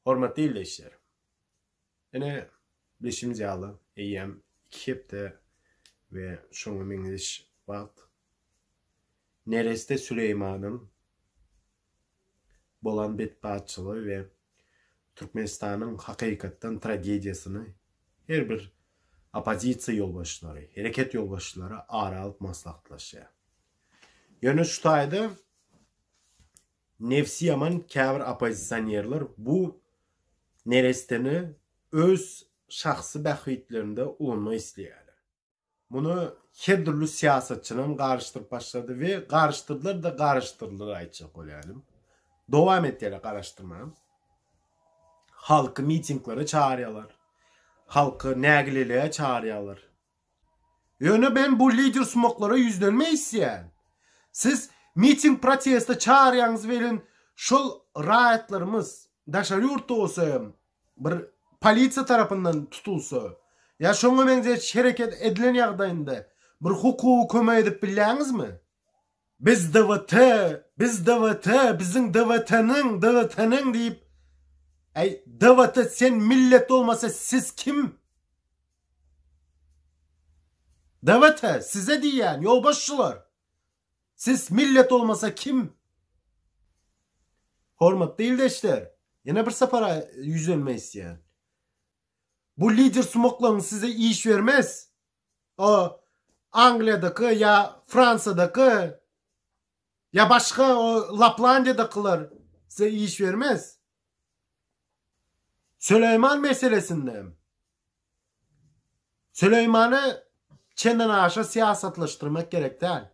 Hormatly ildeşler! Ine, bilşimiz ýaly, eýýäm iki hepde we şoňa meňzeş wagt nereste Süleýmanyň bolan betbagtçylygy we Türkmenistanyň hakykatdan tragediýasyny her bir oppozisiýa ýolbaşçylary, hereket ýolbaşçylary ara alyp maslahatlaşýar. Ýöne şu taýda Nebsi ýaman käbir oppozisionerler bu neresteni öz şahsy bähbitlerinde ulanmak isleýärler. Muny her dürli syýasatçynam garyşdyryp başlady we garyşdyrdylar-da garyşdyrdylar aýtjak bolýaryn. Dowam etýärler garaşdyrmaga. Halky mitinglere çagyrýarlar. Halky nägilelige çagyrýarlar. Ýöne men bu lidersumaklara ýüzlenmek isleýän. Siz miting proteste çagyrýaňyz welin şol raýatlarymyz daşary ýurtda bolsa hem bir polisiýa tarapyndan tutulsa ýa şoňa meňzeş hereket edilen ýagdaýynda bir hukugy kömek edip bilýäňizmi? Biz DWT, biz DWT, biziň DWT-niň, DWT-niň diýip, Äý, DWT sen millet bolmasa siz kim? DWT size diýýän, ýolbaşçylar. Siz millet bolmasa kim? Hormatly ildeşler, ýene bir sapara ýüzlenme isleýän. Bu lider sumaklaň size iş bermez. o Angliýadaky ýa Fransiýadaky ýa başga o Laplandiýadakylar size iş bermez. Süleýman meselesinde Süleýmany çenden aşa syýasatlaşdyrmak gerek däl.